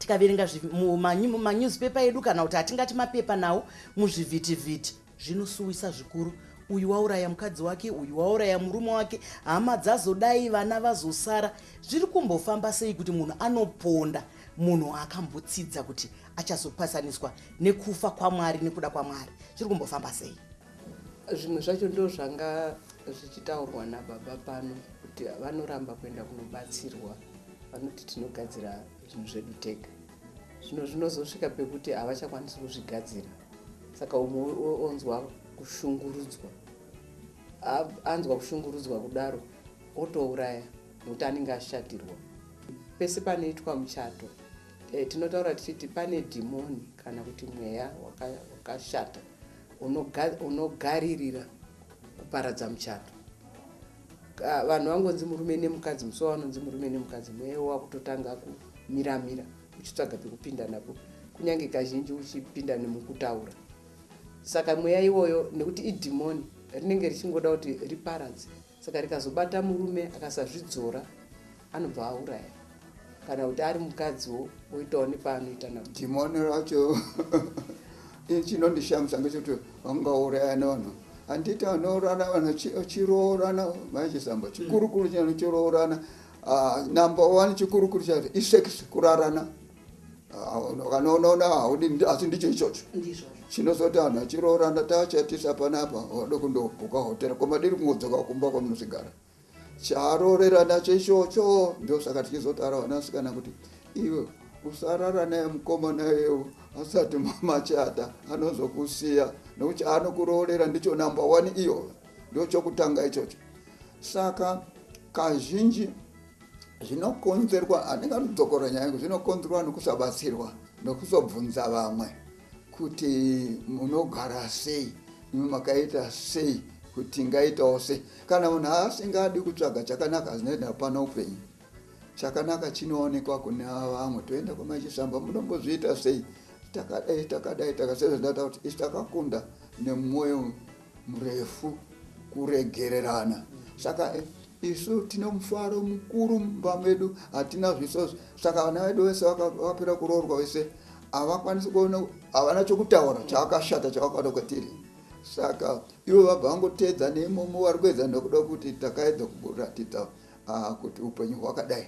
tikaverenga mumanyuzipepa edu kana kuti atingati mapepa nawo muzvivhitivhiti zvinosuwisa zvikuru uyu wauraya mukadzi wake uyu wauraya murume wake hama dzazodai vana vazosara zviri kumbofamba sei kuti munhu anoponda munhu waakambotsidza kuti achazopasaniswa nekufa kwamwari nekuda kwamwari zviri kumbofamba sei Zvimwe zvacho ndozvanga zvichitaurwa nababa pano kuti vanoramba kuenda kunobatsirwa vanoti tinogadzira zvinhu zvedu tega zvino zvinozosvika pekuti havachakwanisi kuzvigadzira saka umwe onzwa kushungurudzwa anzwa kushungurudzwa kudaro otouraya nokuti anenge ashatirwa pese panoitwa muchato e, tinotaura tichiti pane dhimoni kana kuti mweya wakashata waka unogaririra kuparadza muchato ah, vanhu vangonzi murume nemukadzi musi wavanonzi murume nemukadzi mweya wakutotanga kumiramira uchitsvaga pekupinda napo kunyange kazhinji uchipinda nemukutaura saka mweya iwoyo nekuti idhimoni rinenge richingoda kuti riparadze Saka rikazobata murume akasazvidzora anobva auraya kana kuti ari mukadziwo oitawo nepaanoita na dhimoni racho chinondishamisa ngechekuti vangauraya nevanhu handiti vanourana vanhu chiroorana vaichisambo chikurukuru chinochiroorana ah, number one chikurukuru chacho isex kurarana unonoona haudi asi ndicho ichocho chinozoti anhu achiroorana taachatisa panapa wado kundobuka hotera komadiri kungodzoka kumba kwamunosigara charoorera nacho ichocho ndosaka tichizotaura vanasikana kuti iwe usarara naye mukomana yeu asati mamachata anozokusiya nokuti anokuroorera ndicho number one iyo ndochokutanga ichocho saka kazhinji zvinokonzerwa handinga ndidzokora nyaya yangu zvinokonzerwa nokusabatsirwa nokuzobvunza vamwe kuti munogara sei imi makaita sei kuti ngaitawo sei kana munhu asingadi kutsvaga chakanaka zvinoenda hapana upenyu chakanaka chinoonekwa kune vamwe toenda kwamachisamba munombozviita sei takadai takadai takasezvandata kuti isi takakunda nemwoyo murefu kuregererana saka eh, isu tine mufaro mukuru mumba medu hatina zviso saka vana vedu vese vakapera kuroorwa vese havakwanisi kuona havana chokutaura chakashata chakakwana kwatiri saka ivo vabva vangoteedza neimomo vari kuedza nekuda kuti takaedza kuratidza ah, kuti upenyu hwakadai